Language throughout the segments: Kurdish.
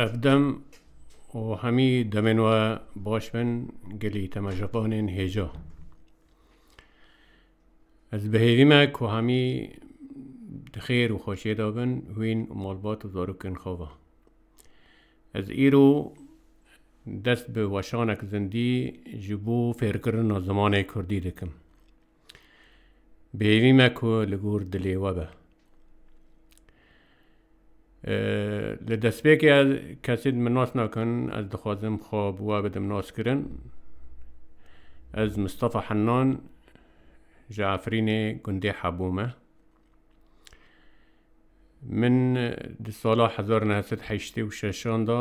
Ev dem û hemî demên we baş bin gelî te me ji qanên hêja. Ez bihêvî me ku hemî di xêr û xweşiyê de bin hûn û malbat û zarokên xwe ve. Ez îro dest bi weşanek zindî ji bo fêrkirina zimanê Kurdî dikim. Bêyî me ku li gor dilê we be. Li destpêkê ez kesê min nas nakin, ez dixwazim xwe bi we bidim naskirin. Ez Mistefa Hennan ji Efrînê gundê Hebû me. Min di sala hezar û neh sed û heştê û şeşan de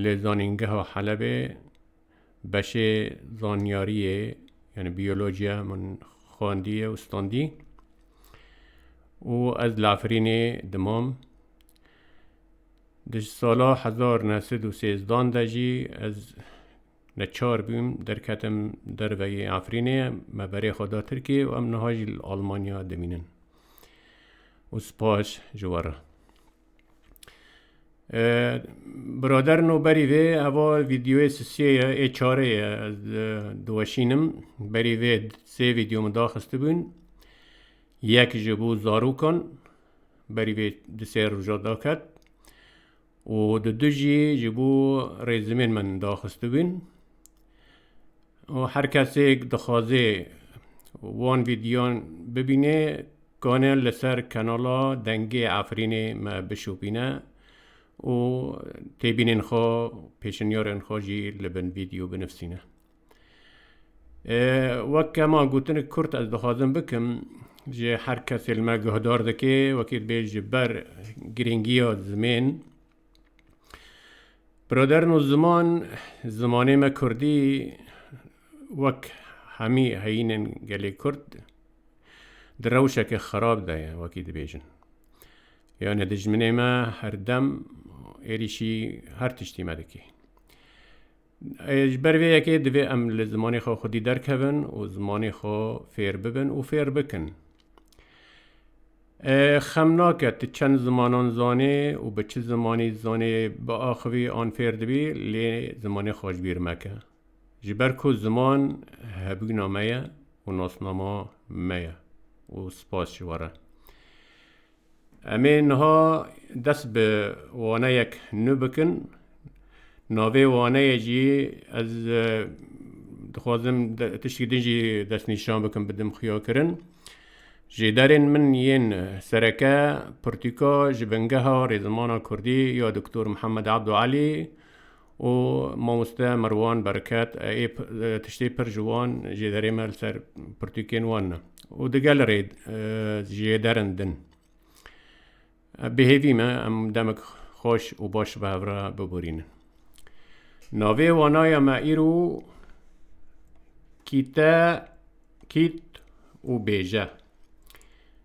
li Zanîngeha Helebê Beşê zanyariyê yani biyolojiya min xwendiye û standî û ez li Efrînê dimam. Di sala hezar neh sed û sêzdan de jî ez neçar bûm derketim derve yê Efrînê me berê xwe da Tirkiyê û em niha jî li Almanya dimînin û spas ji we re. Birader no berî vê heva vîdeoyê sisiyê ye ê çarê ye ez diweşînim berî vê sê vîdeo min daxistibûn yek ji bo zarokan berî vê di sê roja daket û di du jî ji bo rêzimên min daxistibûn û her kesêk dixwazê wan vîdyoyan bibînê kane li ser kanala Dengê Efrînê me bişopîne û têbînên xwe pêşinyarên xwe jî li bin vîdyo binivîsîne. Wek kema gotin kurt ez dixwazim bikim ji her kesê li me guhdar dike wekî dibê ji ber girîngiya zimên Birodern û ziman, zimanê me Kurdî wek hemî heyînên gelê Kurd di rewşeke xerab de ye wekî dibêjin. Yanê dijminê me her dem êrîşî her tiştî me dike. Ji ber vê yekê divê em li zimanê xwe xwedî derkevin û zimanê xwe fêr bibin û fêr bikin. Xem nake tu çend zimanan zanê û bi çi zimanî zanê biaxivî an fêr dibî lê zimanê xwe ji bîr meke. Ji ber ku ziman hebûna me ye û nasnama me ye û spas ji we re. Em ê niha dest bi waneyek nû bikin. Navê waneyê jî ez dixwazim tiştî din jî destnîşan bikim bidim xuyakirin. Ji derên min yên sereke pirtûka ji bingeha rêzimana kurdî ya Doktor Mihemed Ebdû Elî, û mamoste Merwan Bereket ê tiştê pir ji wan jê derê me li ser pirtûkên wan ne û digel rê jê derin din. Bêhêvî me em demek xweş û baş bi hev re biborînin. Navê wanaya me îro kîte kît û bêje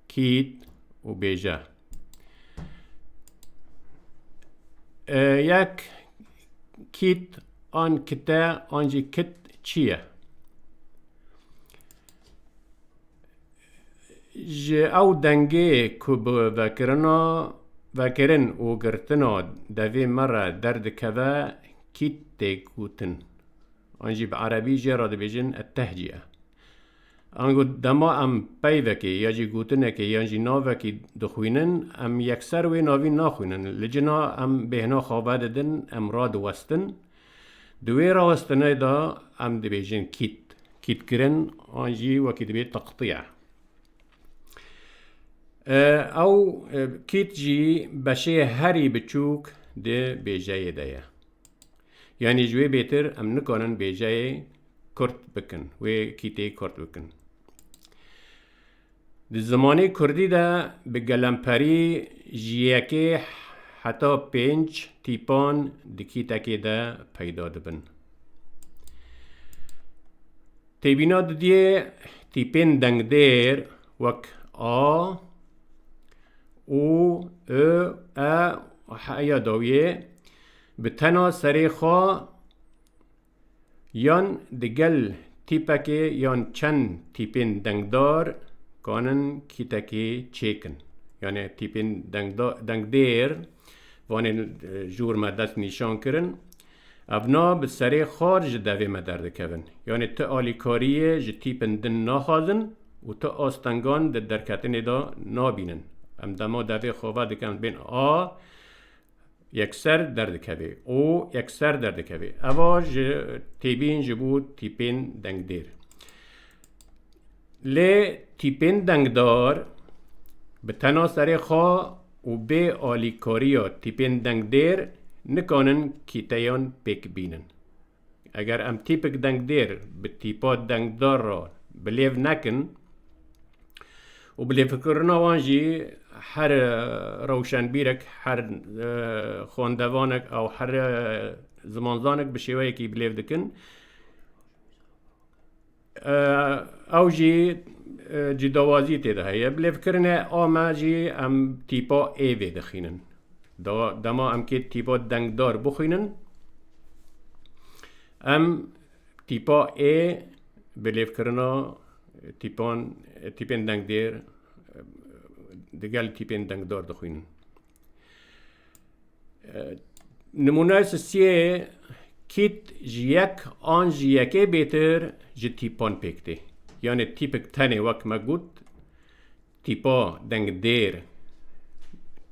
kît û bêje. Yek kît an kite an jî kit çi ye? Ji ew dengê ku bi vekirina vekirin û girtina devê me re derdikeve kît tê gotin. An jî bi erebî jê re dibêjin etehcî ye. Ango dema em peyvekê ya jî gotinekê yan jî navekî dixwînin, em yekser wê navîn naxwînin. Li cina em bêhna xwe vedidin, em radiwestin. Di wê rawestinê de em dibêjin kît. Kîtkirin an jî wekî dibê teqtiye. Ew kît jî beşê herî biçûk di bêjeyê de ye. Yanî ji wê bêtir em nikarin bêjeyê kurt bikin, wê kîtê kurt bikin. Di zimanê kurdî de bi gelemperî ji yekê heta pênc tîpan di kîtekê de peyda dibin. Têbîna didiyê tîpên dengdêr wek a, û, ö, e û heya dawiyê Bi tena serê xwe yan digel tîpekê yan çend tîpên dengdar kanin kîtekê çêkin. Yanê tîpên dengdêr vanê ji wir me dest nîşan kirin. Evna bi serê xar ji devê me derdikevin. Yanê ti alîkariyê ji tîpin din naxazin û ti astengan di derketinê de nabînin. Em dema devê xwe vedikin bên A Yekser derdikeve û yekser derdikeve. Eva ji têbîn ji bo tîpên dengdêr. Lê tîpên dengdar bi tena serê xwe û bê alîkariya tîpên dengdêr nikanin kîteyan pêk bînin. Eger em tîpik dengdêr bi tîpa dengdar re bilêv nekin û bi lêvkirina wan jî her rewşenbîrek, her xwendevanek ew her zimanzanek bi şêweyekî bilêv dikin, Ew jî cîdawazî tê de heye. Bi lêvkirine a me jî em tîpa ê vê dixînin. Dema em kê tîpa dengdar bixînin, em tîpa ê bi lêvkirina tîpan tîpên dengdêr digel tîpên dengdar dixînin. Nimûneyê sisiyê kît ji yek an ji yekê bêtir ji tîpan pêk tê. Yanê tîpik tenê wek me got tîpa deng dêr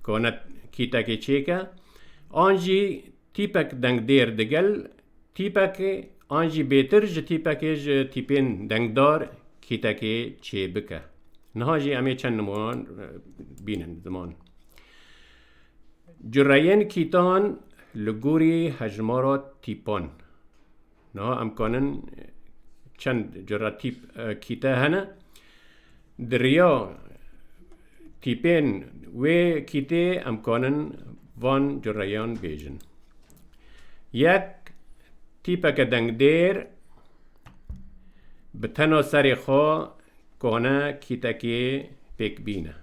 kane kîtekê çêke an jî tîpek deng dêr digel tîpekê an jî bêtir ji tîpekê ji tîpên dengdar kîtekê çêbike. Niha jî em ê çend nimûnan bînin ziman. Cureyên kîtan li gorî hejmara tîpan. Niha em kanin çend cura tîp kîte hene. Di riya tîpên wê kîtê em kanin van cureyan bêjin. Yek tîpeke dengdêr bi tena serê xwe Kone kîtekê pêk bîne.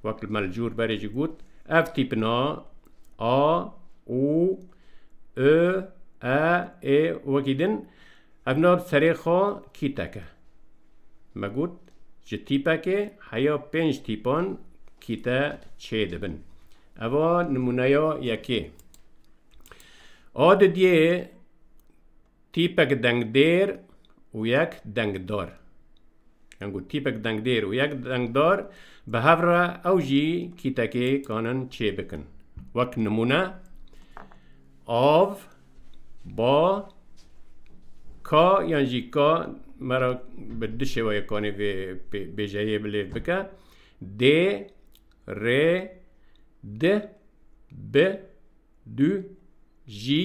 Wek li me li cûr berê jî got, ev tîpina a, û, i, e, ê û wekî din ev na bi serê xwe kîtek e. Me got, ji tîpekê heya pênc tîpan kîte çê dibin. Eva nimûneya yekê. A didiyê Tîpek dengdêr û yek dengdar. Yan ku tîpek dengdêr û yek dengdar bi hev re ew jî kîtekê kanin çê bikin. Wek nimûne av, ba, ka yan jî ka me re bi du şêweyê kanê vê bêjeyê bilêv bike. Dê, rê, di, bi, du, jî,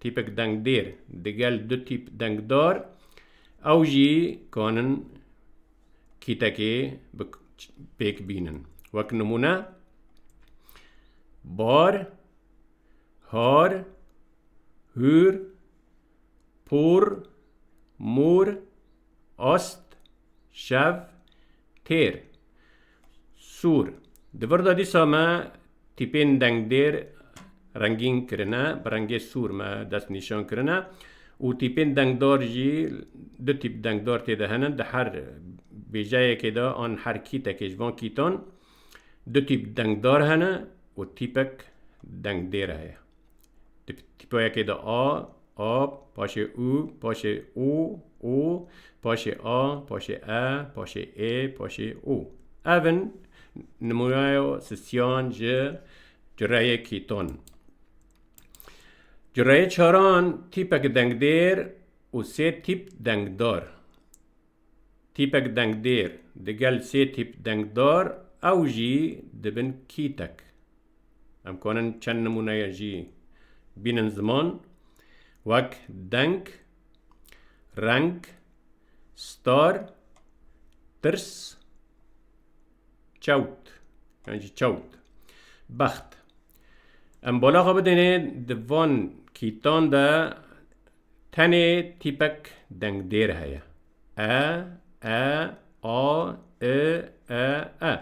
Tîpek dengdêr digel du tîp dengdar ew jî kanin kîtekê bi pêk bînin. Wek nimûne bar, har, hûr, pûr, mûr, ast, şev, têr. Sor, Di vir de dîsa me tîpên dengdêr rengîn kirine, bi rengê sor me dest nîşan kirine û tîpên dengdar jî du tîp dengdar tê de hene. Di her bêjeyekê de an her kîtekê ji van kîtan du tîp dengdar hene û tîpek dengdêr heye. Di tîpoyekê de a, ab, paşê û, paşê o, o, paşê a, paşê e, paşê ê, paşê o. Ev in nimûneya sistiyan ji cureyê kîton. Cureyê çaran tîpek dengdêr û sê tîp dengdar. Tîpek dengdêr digel sê tîp dengdar ew jî dibin kîtek. Em konin çend nimûneyê jî bînin ziman wek deng, reng, star, tirs, çewt yan jî çewt, bext. Em bala xwe bidêne di van kîtan de tenê tîpek dengdêr heye. e, e, a, i, e, e.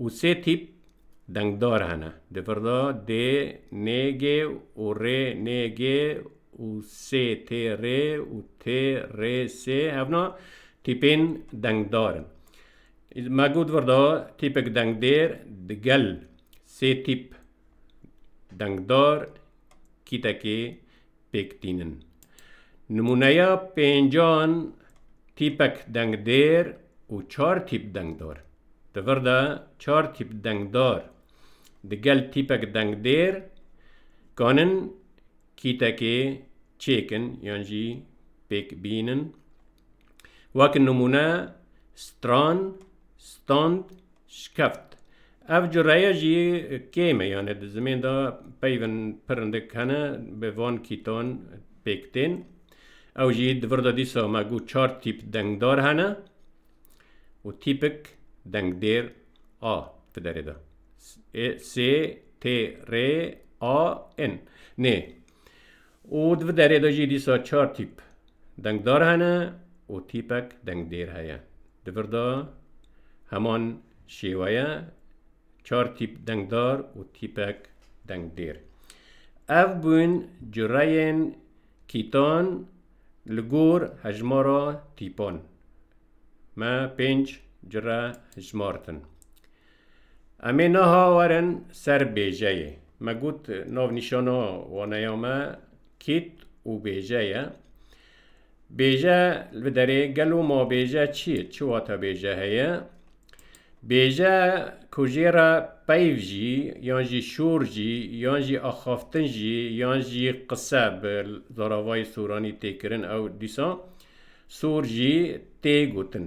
Û sê tîp dengdar hene. Di vir de D, N, G û R, N, G û S, T, R û T, R, S hevna tîpên dengdar in. Me got vir de tîpek dengdêr di gel sê tîp dengdar kîtekê pêk tînin. Nimûneya pêncan tîpek dengdêr û çar tîp dengdar. Di vir de çar tîp dengdar di gel tîpek dengdêr kanin kîtekê çêkin yan jî pêk bînin. Wek nimûne stran, stand Şikeft. Ev cureye jî kêm e yanê di zimên de peyvên pirindik hene bi van kîtan pêk tên. Ew jî di vir de dîsa me got çar tîp dengdar hene û tîpik dengdêr a di derê de. Ê, sê, tê, rê, a, in. Nê. Û di vi derê de jî dîsa çar tîp dengdar hene û tîpek dengdêr heye. Di vir de heman şêwe ye, çar tîp dengdar û tîpek dengdêr. Ev bûn cureyên kîtan li gor hejmara tîpan. Me pênc cure hijmartin. Em ê niha werin ser bêjeyê. Me got navnîşana waneya me kêt û bêje ye. Bêje li bi derê gelo ma bêje çi ye, çi wate bêje heye? Bêje ku jê re peyv jî yan jî şor jî yan jî axaftin jî yan jî qise bi zaravayê soranî tê kirin ew dîsa sor jî tê gotin.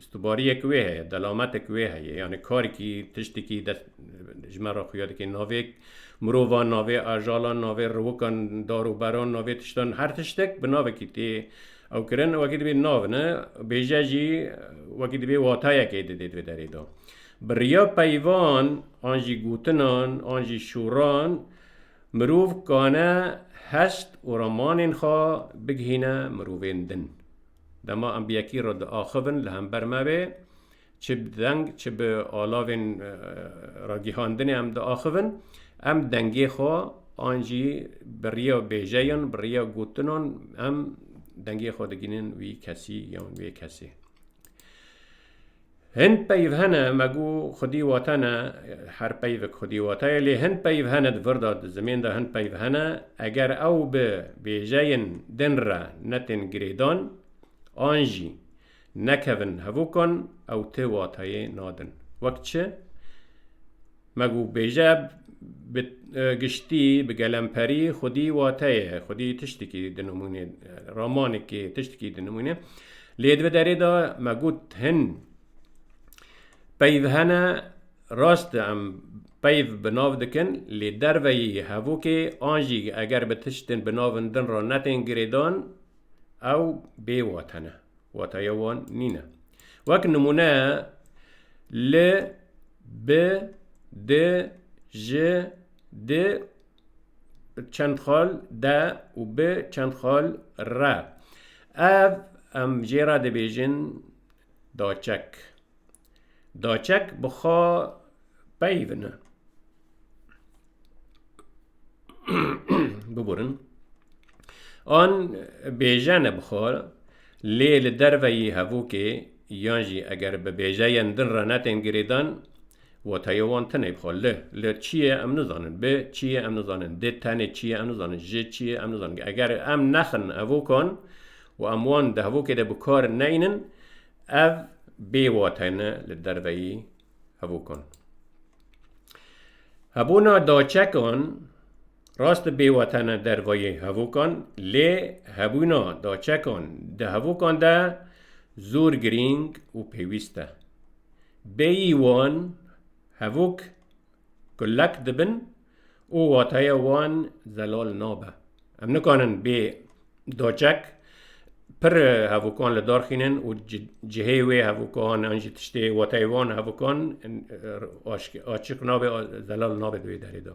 Ji tu bariyek wê heye, delametek wê heye, yanê karekî, tiştekî dest ji me re xuya dike. Navê mirovan, navê ajalan, navê riwikan, dar û beran, navê tiştan, her tiştek bi navekî tê ew kirin. Wekî dibê nav ne, bêje jî wekî dibê watayekê didê divê derê de. Bi riya peyvan an jî gotinan an jî şûran mirov kane heşt û ramanên xwe bigihîne mirovên din. Dema em bi yekî re diaxivin li hember me bê, çi bi deng çi bi alavên ragîhandinê em diaxivin, em dengê xwe an jî bi riya bêjeyan, bi riya gotinan em dengê xwe digihînin wî kesî yan wê kesê. Hin peyv hene me got xwedî wate ne her peyvek xwedî wate ye lê hin peyv hene di vir de di zimên de hin peyv hene eger ew bi bêjeyên din re netên girêdan an jî nekevin hevokan ew ti wateyê nadin wek çi Me gû bêje bi giştî, bi gelemperî xwedî wateye, xwedî tiştekî dinimûne, ramanekê tiştekî dinimûne. Lê di derê de me got hin peyv hene rast em peyv bi nav dikin lê derveyî hevokê an jî eger bi tiştên bi navin din re netên girêdan ew bêwatene. Wataya wan nîne. Wek nimûne li bi di ji di çend xal de û bi çend xal re. Ev em jê re dibêjin daçek. Daçek bi xwe peyvine. Biburin. An bêjene bi xwe lê li derveyî hevokê yan jî eger bi bêjeyên din re netên girêdan wateyê wan tune bi xwe li li çiyê em nizanin bi çiyê em nizanin dê tenê çiyê em nizanin ji çiyê em nizanin eger em nexin hevokan û em wan di hevokê de bi kar neynin Ev bê wate ne li derveyî hevûkan. Hebûna daçekan rast e bê wate ne derveyî hevûkan lê hebûna daçekan di hevûkan de zûr girîng û pêwîst e. Bêyî wan hevûk kulek dibin, û wateya wan zelal nabe. Em nikanin bê doçek pir hevûkan li dar xînin û cihê wê hevûkan an jî tiştê wateyê wan hevûkan açiq nabe zelal nabe di wê derê de.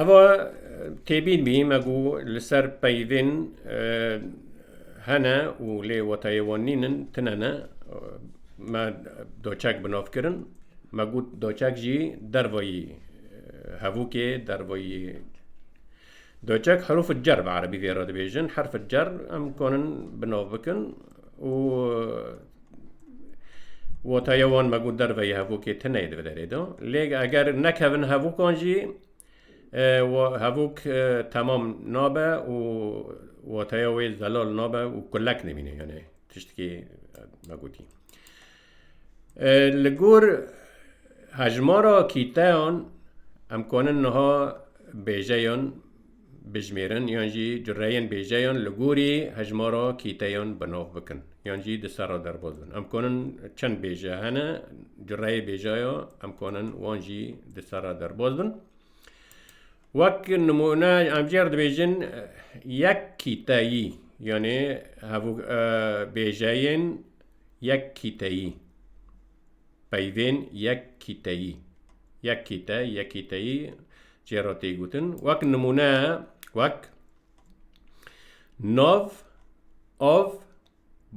Eva têbîn bî me ku li ser peyvên hene û lê wetayê wan nînin tune ne me doçek bi nav kirin me got doçek jî dervayî hevokê dervayî Doçek herûf û cer bi erebî vê re dibêjin. Herf cer em konin bi nav bikin û wataya wan me got derve yê hevokê tineyê dibe derê de. Lê eger nekevin hevokan jî hevok temam nabe û wataya wê zelal nabe û kulek nemîne. Yanê tiştekî me gotî. Li gor hejmara kîteyan em kanin niha bêjeyan bijimêrin yan jî cureyên bêjeyan li gorî hejmara kîteyan bi nav bikin yan jî di ser re derbas bin. Em kanin çend bêje hene cureyê bêjeya em kanin wan jî di ser re derbas bin. Wek nimûne em jê re dibêjin yek kîteyî yanê hevû bêjeyên Yek kîteyî Peyvên yek kîteyî Yek kîte, yek kîteyî cê re tê gotin. Wek nimûne wek nav, av,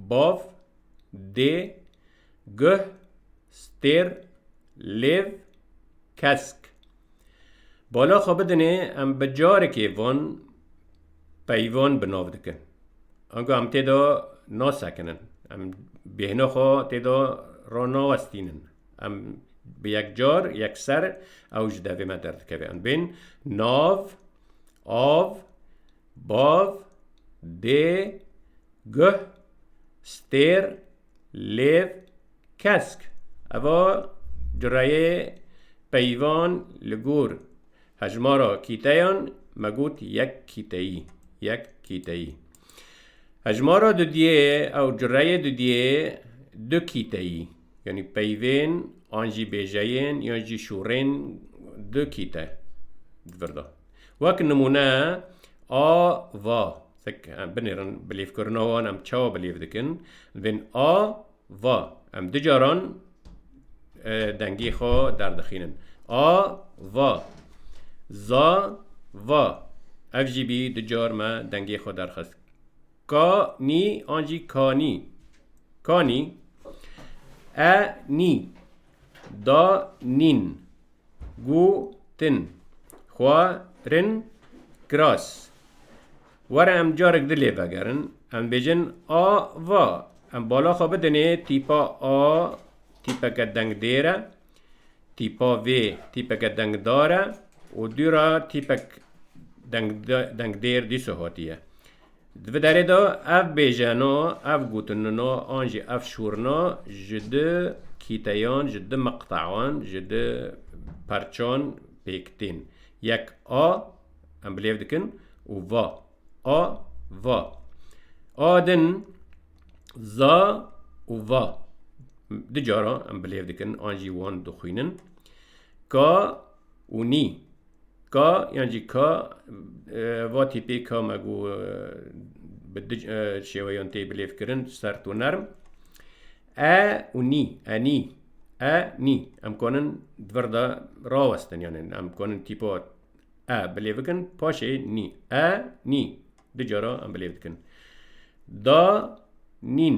bav, dê, guh, Stêr, lêv, kesk. Bala xwe bidinê em bi carekê van peyvan bi nav dikin. Ango em tê de nasekinin. Em bêhna xwe tê de ranawestînin. Em bi yekcar, yekser ew ji devê me derdikeve. Em bên nav, av, bav, dê, guh, stêr, Lêv, kesk, eva cureyê peyvan li gor hejmara kîteyan me got yek kîteyî, yek kîteyî. Hejmara dudiyê ew cureyê dudiyê du kîteyî, yanî peyvên an jî bêjeyên yan jî şûrên du kîte di vir de. Wek nimûne a va. Tek em binêrin bilêvkirina wan em çawa bilêv dikin vên a va em du caran e, dengê xwe derdixînin a va za va ev jî bî du car me dengê xwe derxist ka nî an jî kanî kanî e nî da nîn Gotin, Xwe rin kiras. Were em carek di lê vegerin. Em bêjin a va. Em bala xwe bidinê tîpa a tîpeke dengdêr e, tîpa vê tîpeke dengdar e û dû re tîpek dengdêr dîso hatiye. Di vê derê de ev bêjeno, ev gotinino an jî ev şûrina ji du kîteyan, ji du miqtean, ji du parçan pêk tên. Yek a, em bilêv dikin û va. A, va. A din, za û va. Du cara em bilêv dikin an jî wan dixwînin. Ka û nî. Ka yan jî ka va tîpê ka me got bi du şêweyan tê bilêvkirin sert û nerm. E û nî, e nî, e nî. Em kanin di vir de rawestin yanê em kanin tîpa e bilêv bikin paşê nî. E nî du cara em bilêv dikin. Da nîn.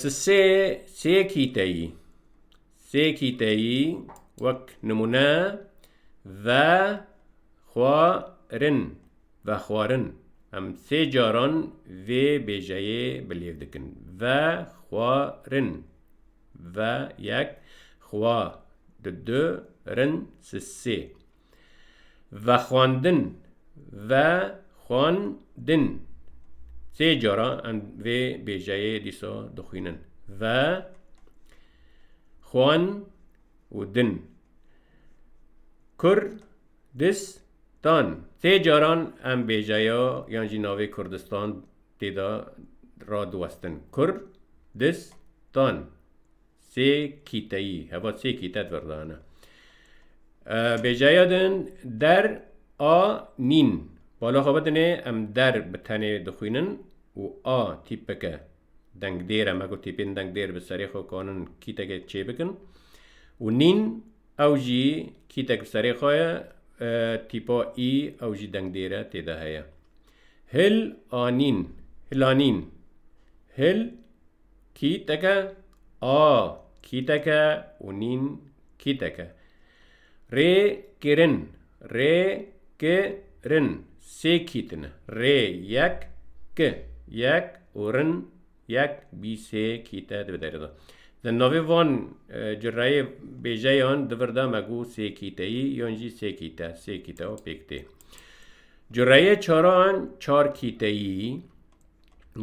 Ti sê sê kîteyî sê kîteyî wek nimûne ve xwarin vexwarin em sê caran vê bêjeyê bi lêv dikin vexwarin ve yek xwa di du rin si sê. Vexwendin, ve-xwen-din. Sê cara em vê bêjeyê dîsa dixwînin. Ve, xwen û din. Kur, dis, tan. Sê caran em bêjeya yan jî navê Kurdistan têda radiwestin. Kur, dis, tan. Sê kîteyî, heva sê kîte di vir de hene. Bêjeya din der a nîn. Bala xwe bidinê em der bi tenê dixwînin û a tîpik e. Dengdêr e, me got tîpên dengdêr bi serê xwe kanin kîtekê çê bikin. Û nîn ew jî kîtek bi serê xwe ye, tîpa î ew jî dengdêr e tê de heye. Hil a nîn, hilanîn. Hil. Kîteke a kîteke û nîn kîteke. Rê kirin rê ki rin sê kîtine. Rê yek ki yek û rin yek bî sê kîte dibe derê de. Di navê van cireyê bêjeyan di vir de me got sê kîteyî yan jî sê kîte sê kîte û pêk tê. Cireyê çaran çar kîteyî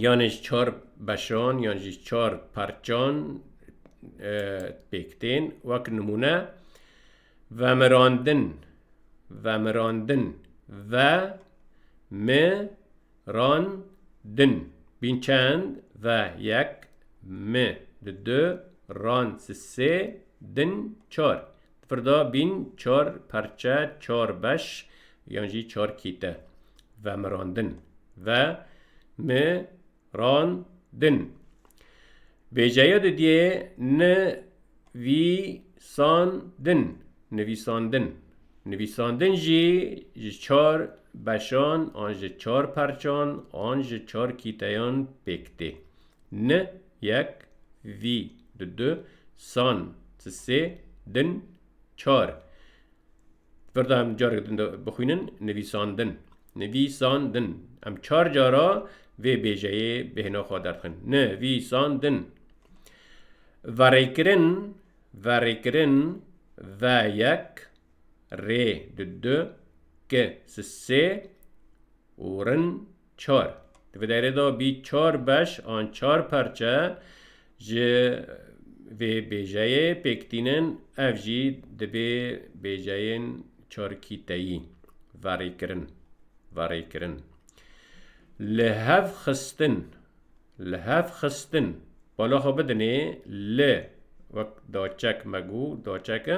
yanê ji çar beşan yan jî çar parçan pêk tên wek nimûne vemirandin vemirandin ve mi ran din bîn çend ve yek mi di du ran si sê din çar Firda bîn çar perçe, çar beş yan jî çar kîte vemirandin, ve mi ran din. Bêceya di diyê ni vî san din, nivîsandin. Nivîsandin jî ji çar beşan an ji çar perçan an ji çar kîteyan pêk tê. Ni Yek, vî, di du, san, ti sê, din, çar. Firda em carek din bixwînin nivîsandin. Nivîsandin. Em çar cara vê bêjeyê bi hêna xwe derdixin. Nivîsandin. Verêkirin, verêkirin, ve yek, rê di du, ki si sê û rin Çar. Di vê deyrê de bî çar beş an çar perçe ji vê bêjeyê pêk tînin, ev jî dibê bêjeyên çarkîteyî, verêkirin, verêkirin, lihevxistin. Li hev xistin, bala xwe bidinê li, wek daçek me got, daçek e,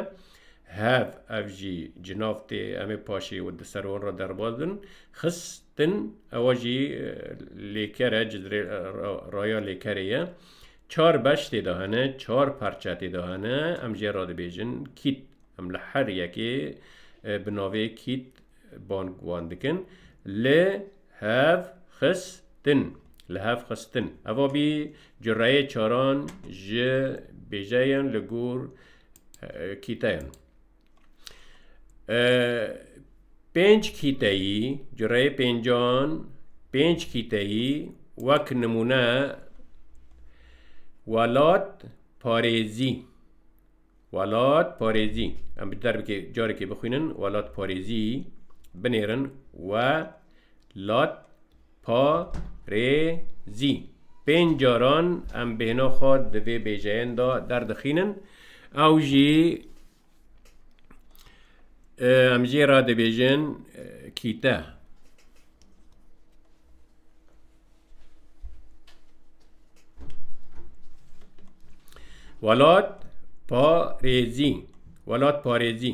hev, ev jî cinav tê, em ê paşê û di ser wan re derbas bin, xistin, ewa jî lêker e, cizrê raya lêkerê ye. Çar beş tê de hene, çar parçe tê de hene, em jê re dibêjin kît. Em li her yekê bi navê kît Bang wan dikin. Li hev xistin. Li hev xistin. Eva bî cureyê çaran ji bêjeyên li gor kîteyan. Pênc kîteyî, cureyê pêncan, pênc kîteyî wek nimûne welat parêzî. Welat parêzî, em bi derbikê carekê bixwînin, welat parêzî binêrin we lat pa rê zî. Pênc caran em bêhna xwe di vê bêjeyên de derdixînin. Ew jî em jê re dibêjin kîte. Welat parêzî welat parêzî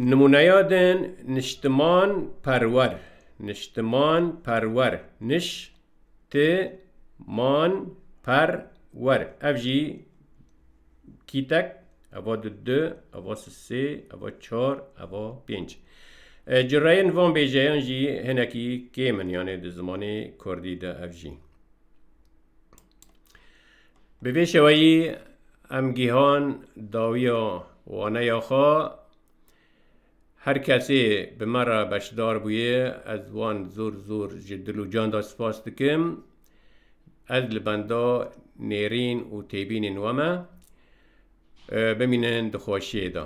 nimûneya din niştiman perwer niştiman perwer niş ti man perwer ev jî Kîtek, eva di du, eva si sê, eva çar, eva pênc. Ji reyên van bêjeyan jî hinekî kêm in yanê di zimanê kurdî de ev jî. Bi vê şeweyî em gîhan dawiya waneya xwe Her kesê bi me re beşdar bûye ez wan zor zor ji dil û can de spas dikim. Ez li benda nêrîn û têbînên we me. Bimînin di xweşiyê de.